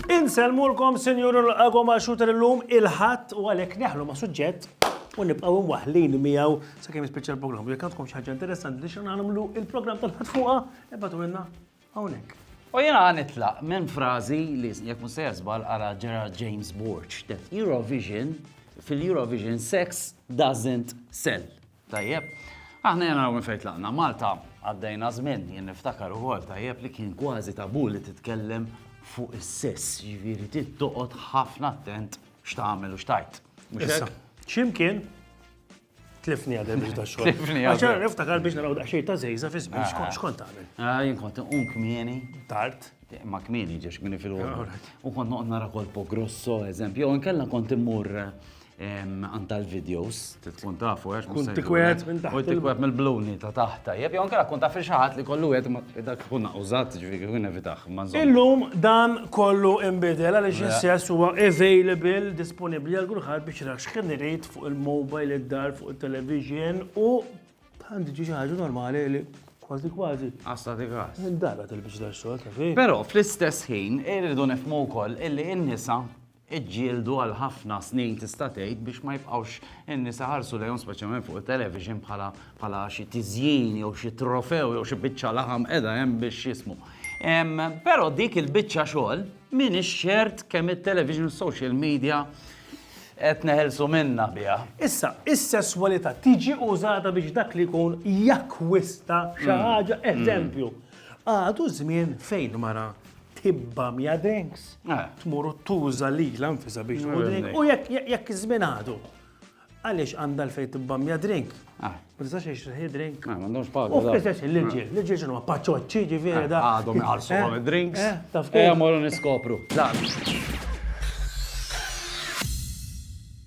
Inselmulkom sinjur il-qagħu ma' xuter illum il-ħadd u għalhekk neħlu ma' suġġett u nibqgħu mwaħlin miegħu sakemm jispiċċa l-programm. Jekk għandkom xi ħaġa interessanti li xi nagħmlu il-programm tal-ħadd fuqha, ebgħatu minna. hawnhekk. U jiena ħa nitlaq minn frażi li jekk mhux sejja żball qara Gerard James Borch that Eurovision fil-Eurovision sex doesn't sell. Tajjeb. Aħna jena minn fejn tlaqna Malta għaddejna żmien jien niftakar ukoll tajjeb li kien kważi tabu li titkellem fuq is-sess, jiġifieri trid toqgħod ħafna attent x'tagħmel u x'tajt. X'imkien Tlifni għadem biex da xogħol. Tlifni għadem. Għaxar niftakar biex naraw daqxej ta' zejza fi żmien ah. xkont għamil. Ah, jien kont un kmieni. Tard. Ma kmieni ġiex kmieni fil ah, U kont noqgħod nara kolpo grosso, eżempju, u nkella kont immur għan tal-videos, tkun tafu, għax kun tikwet minn taħt. U tikwet mill-bluni ta' taħta. Jeb, jgħon kera kun taf xaħat li kollu għed ma dak kun użat ġviri kun evitax. Illum dan kollu imbidel għal ġessess huwa available, disponibli għal kulħadd biex rax kien irid fuq il-mobile, id-dar, fuq it-television u għandi ġi xi ħaġa normali li kważi kważi. Għasta ti għas. Dara tilbiġ dar xogħol ta' fi. Però fl-istess ħin irridu nifmu wkoll illi n-nisa iġġieldu għal ħafna snin tista' tgħid biex ma jibqgħux in-nisa ħarsu lejhom speċjalment fuq it-television bħala bħala xi tiżjin jew xi trofew jew xi biċċa laħam qiegħda hemm biex jismu. Però dik il-biċċa xogħol m'iniex ċert kemm it-television u social media Qed neħilsu minnha biha. Issa, is-sesswalità tiġi użata biex dak li jkun jakkwista xi ħaġa, eżempju, għadu żmien fejn mara tibba mija drinks, tmur u tuża lilha nfisha biex tmur drink, u jekk iż-żmien għadu. Għaliex għandha l-fejn tibba mija drink? Ma tistax għiex il-ħin drink. Ma għandhomx paga. U fl-istess il-ġil, l-ġil xinu ma paċoċċi ġifiri da. Għadhom iħarsu għam il-drinks. Taf kif? Għamorru niskopru.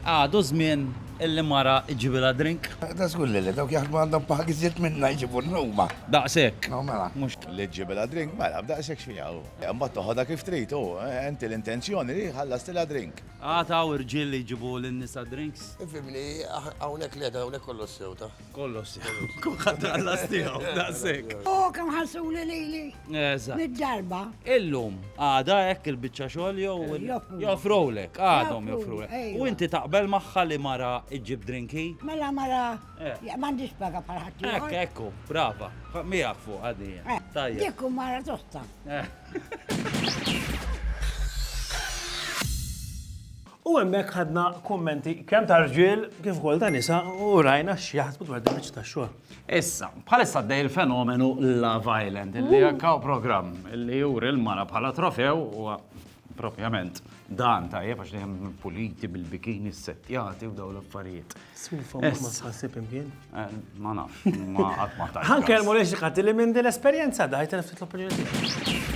Għadu zmin illi mara ġibila drink. Da zgur li li dawk jaħdmu għandhom paħgi zitt minna jġibu n-numa. Daqsek. No, mela. Mux li ġibila drink, mela, daqsek xfija. Mbatt toħoda kif trid, u enti l-intenzjoni li ħallas tila drink. Għad hawn irġiel li jġibu lin-nisa drinks? Fimni, hawnhekk le, hawnhekk kollox sew ta. Kollox sew. Kulħadd ħallas tiegħu, daqshekk. U kemm ħassuli lili. Eżatt. Mid-darba. Illum, għada hekk il-biċċa xogħol jew joffrulek, għadhom joffrulek. U inti taqbel magħha li mara iġġib drinki? Mela mara, m'għandix paga bħal ħadd. Ekk, ekku, brava. Miegħek fuq għadija. Tajjeb. Dik hu mara tosta. U hemmhekk ħadna kummenti kemm ta' rġiel kif ukoll ta' nisa u rajna x'jaħsbu dwar din biċċa tax-xogħol. Issa, bħalissa għaddej il-fenomenu Love Island, li jekk hawn programm li juri l-mara bħala trofew u propjament dan tajjeb għax li hemm puliti bil-bikini settjati u dawn l-affarijiet. Sufa, ma tħassib imkien? Eh, ma nafx, ma għat ma tajt. Għan kelmu li xikati li minn dil-esperienza daħi telef titlu opinjoni.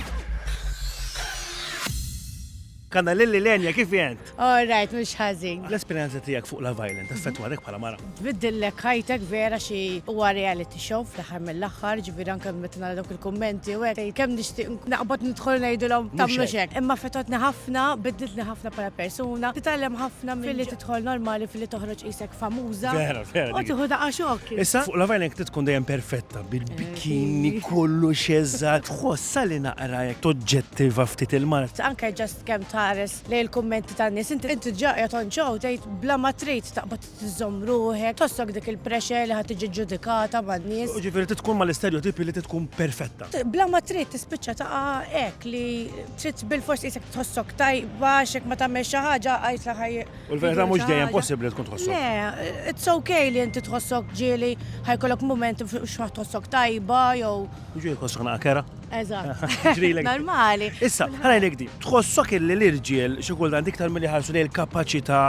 Kanna lilli lenja kif jent? All right, mux ħazin. L-esperienza tijak fuq la violent, effettwatek pala mara. Biddillek ħajtek vera xi huwa reality show fl-aħħar mill-aħħar, ġifieri anke meta nara dawk il-kummenti u hekk kemm nixtieq naqbad nidħol ngħidilhom tagħmlu xek. Imma fetotni ħafna, biddiltni ħafna bħala persuna, titgħallem ħafna milli tidħol normali fil-li toħroġ isek famuża. Vera, vera. U tiħu daqqa xokk. Issa, fuq la vajna jek tkun dejjem perfetta, bil-bikini, eh. kollu xezza, tħossa li naqra jek toġġettiva ftit il-mart. Anka ġast kem tares li l-kommenti ta' nis, inti inti ġaqja tonċaw, tejt bla ma trejt taqbat t-zom ruħek, tossok dik il-pressure li ħat ġudikata ma' nis. Ġifiri tkun ma l-istereotipi li tkun perfetta. Bla ma trejt tispicċa ta' ek li Trid bilfors tqisek tħossok tajba għax jekk ma tagħmel xi ħaġa għajt la ħaj. U l-verità mhux dejjem possibbli tkun tħossok. Le, it's okay li inti tħossok ġieli ħajkollok mument biex ma tħossok tajba jew. Ġieli tħossok naqa' kera. Eżatt. Ġrilek. Normali. Issa, ħarajlek di. Tħossok illi l-irġiel xi kultant iktar milli ħarsu lejn il-kapaċità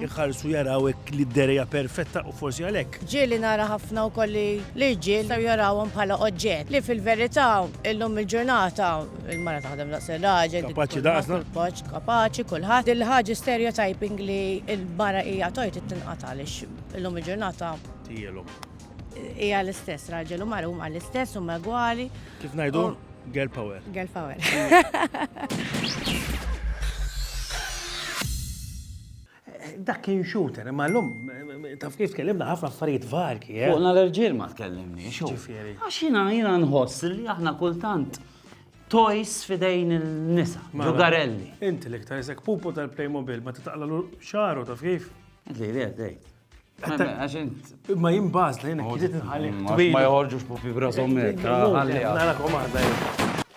jħarsu jaraw li d-derja perfetta u forsi għalhekk. Ġieli nara ħafna wkoll li l-irġiel jew jarawhom bħala oġġett li fil-verità illum il-ġurnata Il-mara taħdem daqs ir-raġel. Kapaċi daqsna. Kapaċi kulħadd. Il-ħaġa stereotyping li l-mara hija tojt it-tinqata għaliex illum il-ġurnata. Tijelhom. Hija l-istess raġel u mara huma l-istess u megwali. Kif ngħidu? Girl power. Girl power. Dak kien shooter, imma llum taf kif tkellimna ħafna affarijiet varji. Fuqna l-irġiel ma tkellimniex. X'ġifieri? Għax jiena jiena nħoss li aħna kultant toys f'idejn in-nisa, ġugarelli. Inti l-iktar isek pupu tal-Playmobil meta taqlagħlu xagħru taf kif? Qed lili qed tgħid. Għax int. Imma jien bażla jiena kienet inħalli. Ma joħorġux pupi b'rashom hekk. Ħalliha. Narakom waħda.